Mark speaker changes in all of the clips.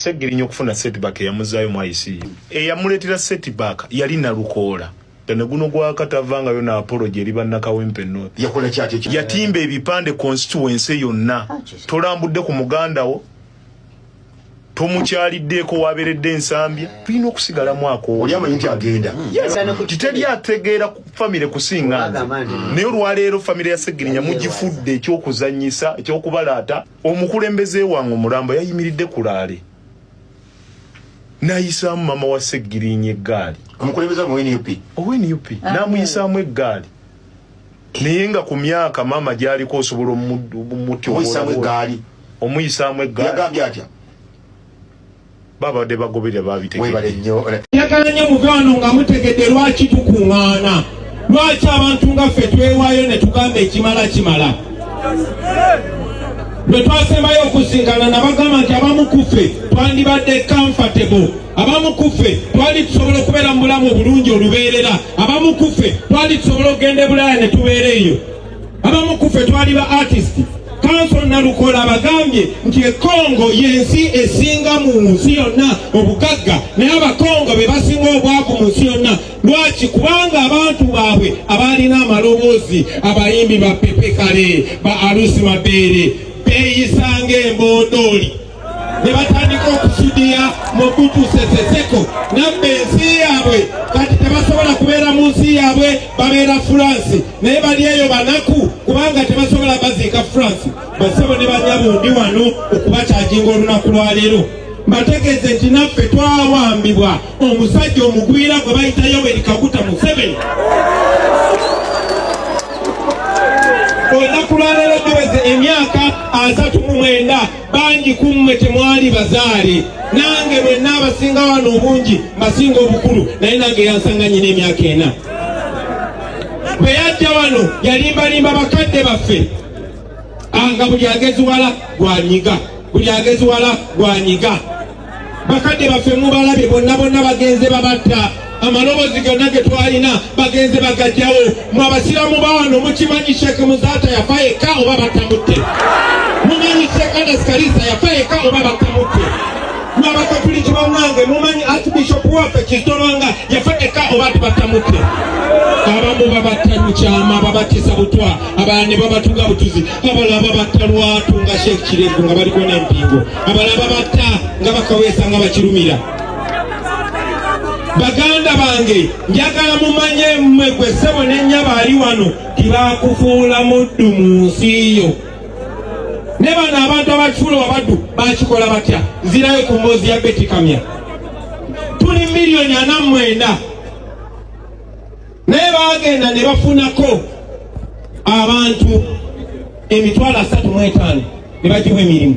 Speaker 1: Segirinya okufuna setback eyamuzaayo mu ICU. Eyamuleetera setback yali Nalukoola. Tene guno gwa Katava nga yo na apology eri bannakawempe North. Yakola ki ate? Yatimba
Speaker 2: ebipande
Speaker 1: constituency yonna. Ah, Tolambudde ku muganda wo. Tomukyaliddeeko waberedde ensambya. Tulina okusigala mwako. Oli amanyi nti agenda.
Speaker 2: Hmm. Titeri
Speaker 1: ategeera ku famire kusinga nze. Naye olwaleero famire ya Segirinya mugifudde ekyokuzanyisa ekyokubalaata. omukulembeze wange omulamba yayimiridde ku laale nayisaamu mama wa seggirinya eggaali
Speaker 2: owenup ah,
Speaker 1: namuyisaamu eggaali naye nga ku myaka maama gyaliko osobola omutyoomuyisaamu
Speaker 2: eggaali
Speaker 1: babadde bagoberera babitegewebale nnyo
Speaker 2: njagala nnyo mukwano
Speaker 3: nga mutegedde lwaki tukuŋŋaana lwaki abantu nga ffe twewaayo ne tugamba ekimala kimala lwe twasembayo okusinkana nabagamba nti abamu kuffe twandibadde comfortable abamu kuffe twali tusobola okubeera mu bulamu obulungi olubeerera abamu kuffe twali tusobola okugenda ebulaaya ne tubeera eyo abamu ku ffe twali ba artist kanso nalukola abagambye nti ekongo yensi esinga mu nsi yonna obugagga naye abakongo be basinga obwavu mu nsi yonna lwaki kubanga abantu baabwe abaalina amaloboozi abayimbi ba pepekale ba alusi mabeere beeyisanga embondooli ne batandika okusudiya Mobutu Sese Seko nabba ensi yaabwe kati tebasobola kubeera mu nsi yaabwe babeera France naye bali eyo banaku kubanga tebasobola baziika France basebo ne banyabo ndi wano okubakyaginga olunaku lwaleero mbategeeze nti naffe twawambibwa omusajja omugwira gwe bayita Yoweri Kaguta Museveni olunaku lwaleero giweze emyaka asatu mu mwenda bangi ku mmwe temwali bazaale nange mwenna abasinga wano obungi mbasinga obukulu naye nange yansanga nyina emyaka ena bwe yajja wano yalimbalimba bakadde baffe ah, nga buli ageziwala gwanyiga buli ageziwala gwanyiga bakadde baffe mubalabye bonna bonna bagenze babatta amaloboozi gonna ge twalina bagenze bagajjawo mu abasiraamu bawano mukimanyi sheeke muzaata yafa yekka oba batamutte mumanyi sheeke anas kalisa yafa yekka oba batamutte mu abakatuliki bamwange mumanyi archbishop waffe kizitolwanga yafa yekka oba tibatamutte abamu babatta mukyama babatisa butwa abala ne babatuga butuzi abala babatta lwatu nga sheeke kirevu nga baliko n'empingo abalaba batta nga bakaweesa nga bakirumira baganda bange njagala mumanye mmwe gwe ssebo nenyaba ali wano tibakufuula muddu mu nsi yo ne bano abantu abakifuula wabaddu bakikola batya nzirayo ku mboozi ya betikamya tuli miliyoni ana mwenda naye baagenda ne bafunako abantu emitwalo asatu mu etaano ne bagiwa emirimu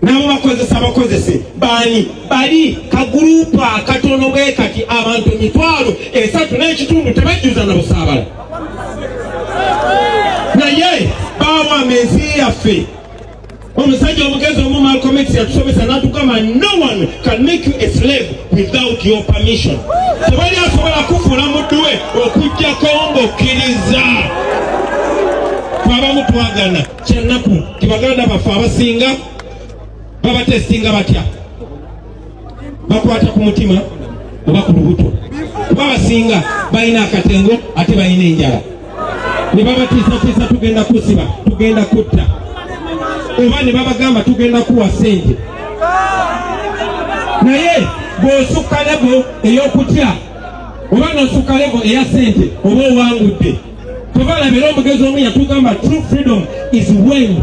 Speaker 3: nabo bakozesa bakozese baani bali kagurupu akatono bwe kati abantu emitwalo esatu n'ekitundu tebajjuza na busaabala naye baawa mezi yaffe Omusajja omugezi omu Malcolm X yatusomesa n'atugamba no one can make you a slave without your permission. Tewali asobola kufuula muddu we okuggyako ng'okkiriza. Twabamu twagana kyannaku tibaganda baffe abasinga babatesitinga batya. bakwata ku mutima oba ku lubuto kuba basinga balina akatengo ate balina enjala ne babatiisatiisa tugenda kusiba tugenda kutta oba ne babagamba tugenda kuwa sente naye bw'osukka lebo ey'okutya oba n'osukka lebo eya sente oba owangudde kuba labira omugezi omu yatugamba true freedom is when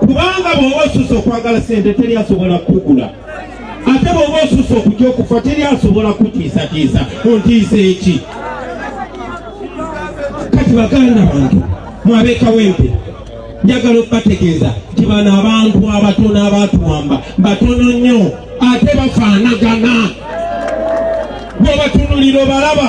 Speaker 3: kubanga bw'oba osusa okwagala sente teri asobola kukugula ate bw'oba osusa okutya okufa teri asobola kutiisatiisa ontiisa eki kati baganda bantu mwabekawempe njagala okubategeeza nti bano abantu abatono abatuwamba batono nnyo ate bafaanagana bwobatunulira obalaba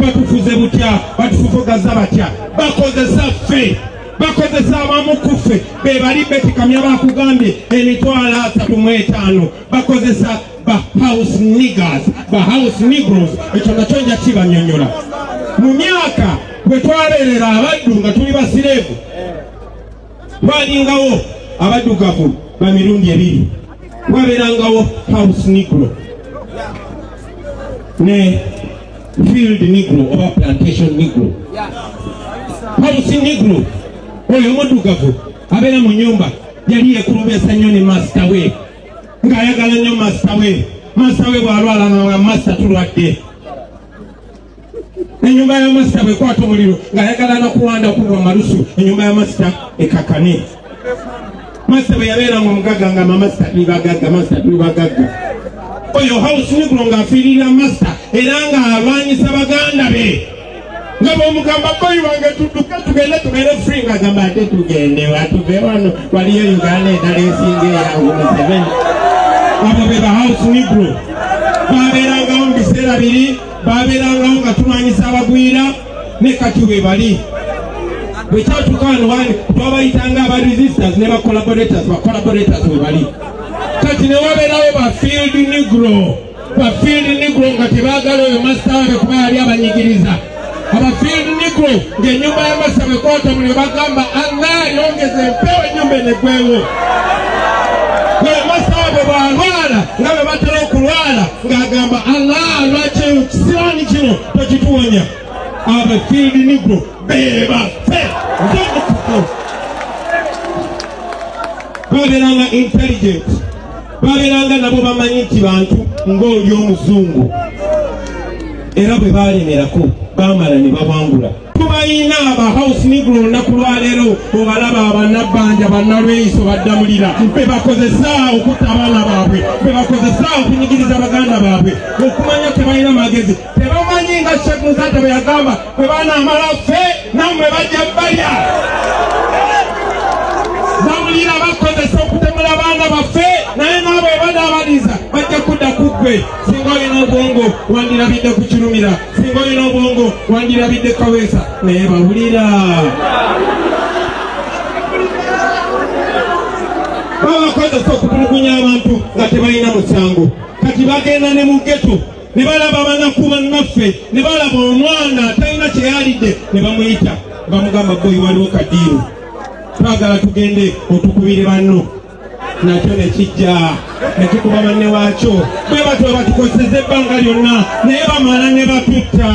Speaker 3: batufuze butya batufufugazza batya bakozesa ffe bakozesa abamu ku ffe be bali betikamya bakugambye emitwalo asatu mu etaano bakozesa ba house niggers ba house negros ekyo nakyo nja kibanyonyola mu myaka bwe twabeerera abaddu nga tuli basireevu twalingawo abaddugavu ba mirundi ebiri wabeerangawo house negro ne field negro oba plantation negro house negro oyo omuddugavu abeera mu nyumba yali yekulubesa nnyo ne masita we ng'ayagala nnyo masita we masita we bw'alwala nga masita tulwadde enyumba ya masita bwekwata omuliro ng'ayagala nokuwanda kulwa malusu enyumba ya masita ekakane masita bwe yabeera nga omugagga nga mamasita tuli bagagga masita tuli bagagga oyo house nigro ng'afiirira masita era ng'alwanyisa baganda be nga bwomugamba boyi wange tuduke tugende tubeere free nga gamba ate tugende watuve wano waliyo uganda endala esinga eyangu museveni abo be ba house nigro babeerangawo mu biseera biri baabeerangawo nga tulwanyisa abagwira ne kati bwe bali bwe kyatuuka wano wani twabayitanga aba resistance ne bacollaborators bacollaborators bwe bali kati ne wabeerawo ba field negro ba field negro nga tebaagala oyo masitawe kuba yali abanyigiriza aba field negro ng'ennyumba ya masa bwe kwata muli bagamba anna yongeza empewo ennyumba enegwewo ng'agamba allah lwaki eyo kisiraani kino tekituwonya abafiidi nigro bebafe ndomukuko babeeranga intelligent babeeranga nabo bamanyi nti bantu ng'oli omuzungu era bwe baalemerako baamala ne bawangula tubayina aba house negro olunaku lwaleero obalaba abanabbanja bannalweyiso baddamulira bebakozesa okutta abaana baabwe bebakozesa okunyigiriza baganda baabwe okumanya tebalina magezi tebamanyi nga shek musajja bwe yagamba bwe banamala ffe namwe bajja balya bamulira bakozesa okutemula abaana baffe naye naabo ebadaabaliza bajja kudda ku ggwe singa olina obwongo wandirabidde ku kirumira singa olina obwongo wandirabidde kaweesa naye bawulira babakozesa okutulugunya abantu nga tebalina musango kati bagenda ne mugeto ne balaba banaku bannaffe ne balaba omwana atalina kyeyalidde ne bamuyita bamugamba boyi waliwo kadiiru twagala tugende otukubire banno nakyo ne kijja ne kikuba banne waakyo bwe batyo batukozeseza ebbanga lyonna naye bamala ne batutta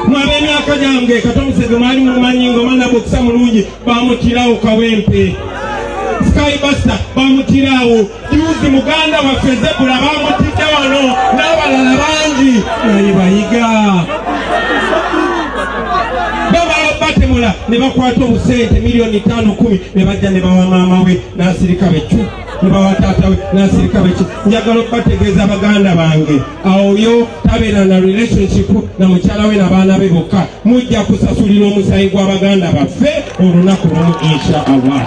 Speaker 3: mwab'emyaka gyange katomusege mwali mumanyi nga omwana bwokisa mulungi bamutirawo kawempe skybusta bamutirawo juzi muganda waffe zebula bamutidde wano n'abalala bangi naye bayiga batemula ne bakwata obusente miliyoni ttaano kumi ne bajja ne bawa maama we n'asirika bekyo ne bawa taata we n'asirika bekyo njagala okubategeeza baganda bange awoyo tabeera na relationship na mukyala we nabaana be bokka mujja kusasulira omusayi gwa baganda baffe olunaku lumu insha allah